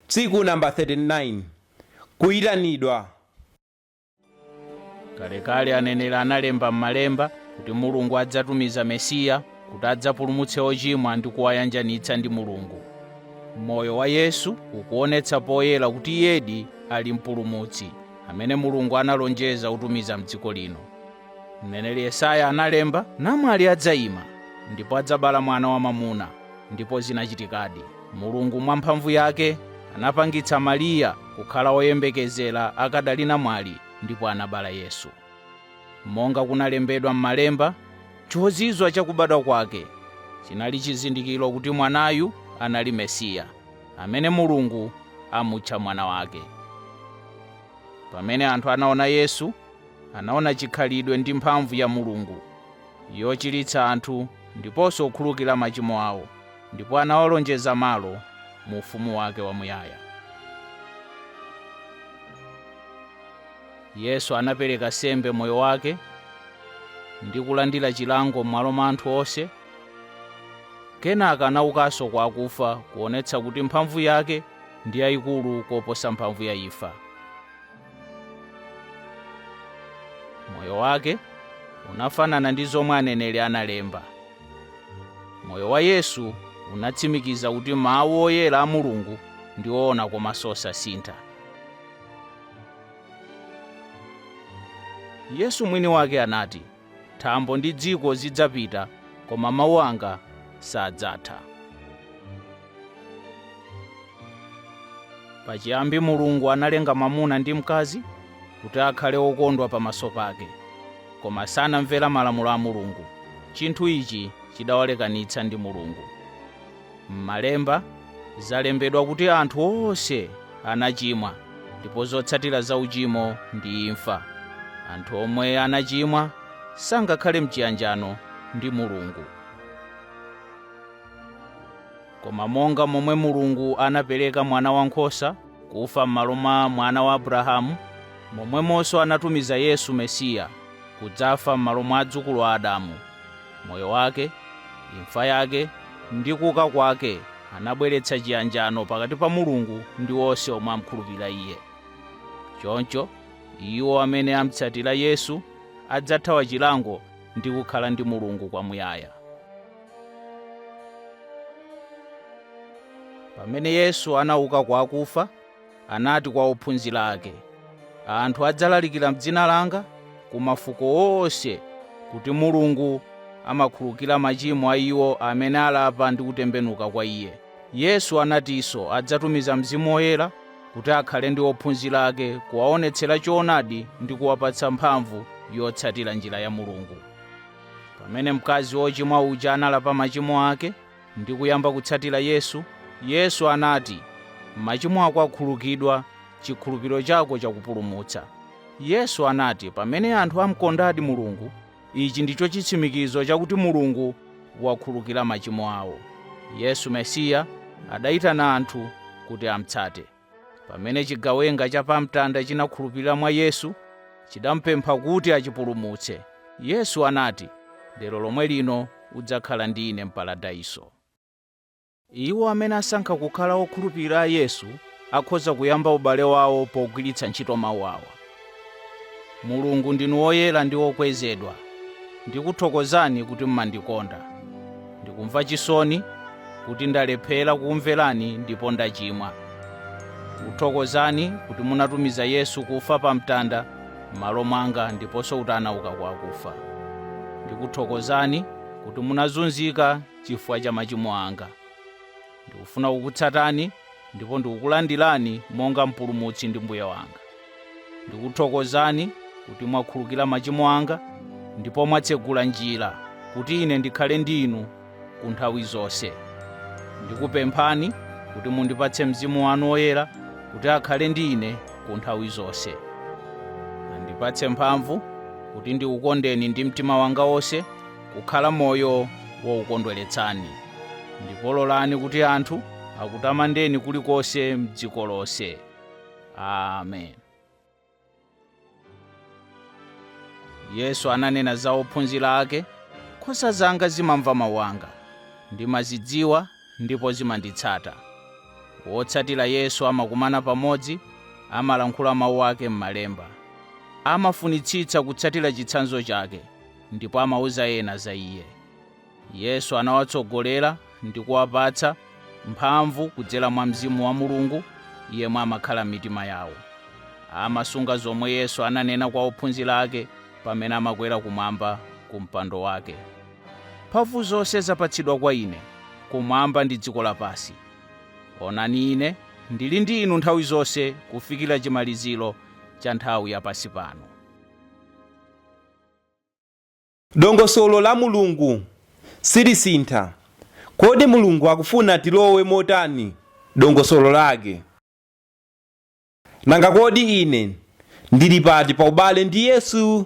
Tsiku number 39 Kuyitanidwa. Kalekale aneneri analemba m'Malemba kuti Mulungu adzatumiza Mesiya kuti adzapulumutse ochimwa ndi kuwayanjanitsa ndi Mulungu. Moyo wa Yesu ukuonetsa poyera kuti iyedi ali Mpulumutsi amene Mulungu analonjeza kutumiza m'dziko lino. Mneneri Yesaya analemba, namwali adzaima, ndipo adzabala mwana wamwamuna. Ndipo zinachitikadi. Mulungu mwa mphamvu yake anapangitsa Mariya kukhala woyembekezera akadali namwali ndipo anabala Yesu. Monga kunalembedwa m'Malemba, chozizwa cha kubadwa kwake chinali chizindikiro kuti mwanayu anali Mesiya, amene Mulungu amutcha Mwana wake. Pamene anthu anaona Yesu, Anaona chikhalidwe ndi mphamvu ya Mulungu yochiritsa anthu ndiponso kukhululukira machimo awo, ndipo anawalonjeza malo mu Ufumu wake wamuyaya. Yesu anapereka sembe moyo wake ndi kulandira chilango m'malo mwa anthu onse. Kenaka anaukanso kwa akufa kuonetsa kuti mphamvu yake ndi yayikulu koposa mphamvu ya imfa. moyo wake unafanana ndi zomwe aneneri analemba moyo wa yesu unatsimikiza kuti mawu oyera a mulungu ndi oona komanso osasintha yesu mwini wake anati Thambo ndi dziko zidzapita, koma mawu anga sadzatha. Pachiyambi Mulungu analenga mwamuna ndi mkazi kuti akhale okondwa pamaso pake, koma sanamvera malamulo a Mulungu. Chinthu ichi chidawalekanitsa ndi Mulungu. M'Malemba, zalembedwa kuti anthu onse anachimwa ndipo zotsatira za uchimo ndi imfa. Anthu omwe anachimwa sangakhale m'chiyanjano ndi Mulungu. Koma monga momwe Mulungu anapereka mwana wankhosa kufa m'malo mwa mwana wa Abrahamu, momwemonso anatumiza Yesu Mesiya kudzafa m'malo mwa adzukulu a Adamu. Moyo wake, imfa yake, ndi kuuka kwake anabweretsa chiyanjano pakati pa Mulungu ndi onse omwe amkhulupirira Iye. Choncho, iwo amene amutsatira Yesu adzathawa chilango ndi kukhala ndi Mulungu kwamuyaya. Pamene Yesu anauka kwa akufa, anati kwa ophunzira ake, Anthu adzalalikira m'dzina langa ku mafuko onse kuti Mulungu amakhululukira machimo a iwo amene alapa ndi kutembenuka kwa iye. Yesu anatinso adzatumiza Mzimu Woyera kuti akhale ndi ophunzira ake kuwaonetsera choonadi ndi kuwapatsa mphamvu yotsatira njira ya Mulungu. Pamene mkazi wochimwa uja analapa machimo ake, ndi kuyamba kutsatira Yesu, Yesu anati, Machimo ako akhululukidwa, chikhulupiriro chako chakupulumutsa. Yesu anati pamene anthu amkondadi Mulungu, ichi ndicho chitsimikizo chakuti Mulungu wakhululukira machimo awo. Yesu Mesiya adayitana anthu kuti amtsate. pamene chigawenga cha pamtanda chinakhulupirira mwa yesu chidamupempha kuti achipulumutse yesu anati lero lomwe lino udzakhala ndi ine m'paradaiso iwo amene asankha kukhala okhulupirira yesu akhoza kuyamba ubale wawo pogwiritsa ntchito mawu awa mulungu ndinu woyera ndi wokwezedwa ndikuthokozani kuti mumandikonda ndikumva chisoni kuti ndalephera kukumverani ndipo ndachimwa ndikuthokozani kuti munatumiza yesu kufa pa mtanda m'malo mwanga ndiponso kuti anauka kwa akufa ndikuthokozani kuti munazunzika chifukwa cha machimo anga Ndikufuna kukutsatani ndipo ndikukulandirani monga Mpulumutsi ndi Mbuye wanga. Ndikuthokozani kuti mwakhululukira machimo anga ndipo mwatsegula njira kuti ine ndikhale ndi inu ku nthawi zonse. Ndikupemphani kuti mundipatse mzimu wanu woyera kuti akhale ndi ine ku nthawi zonse. Nandipatse mphamvu kuti ndikukondeni ndi mtima wanga wonse kukhala moyo wokukondweretsani. Ndipo lolani kuti anthu akutamandeni kulikonse m'dziko lonse. Amen. Yesu ananena za ophunzira ake, nkhosa zanga zimamva mawu anga. Ndimazidziwa ndipo zimanditsata. Wotsatira Yesu amakumana pamodzi, amalankhula mawu ake m'Malemba. Amafunitsitsa kutsatira chitsanzo chake ndipo amauza ena za iye. Yesu anawatsogolera ndi kuwapatsa mphamvu kudzera mwa mzimu wa Mulungu yemwe amakhala m'mitima yawo. Amasunga zomwe Yesu ananena kwa ophunzira ake pamene amakwera kumwamba ku mpando wake. Mphamvu zonse zapatsidwa kwa ine kumwamba ndi dziko lapansi. Onani ine ndili ndi inu nthawi zonse kufikira chimaliziro cha nthawi ya pansi pano. Dongosolo la Mulungu silisintha. Kodi Mulungu akufuna tilowe motani dongosolo lake? Nanga kodi ine ndili pati pa ubale ndi Yesu?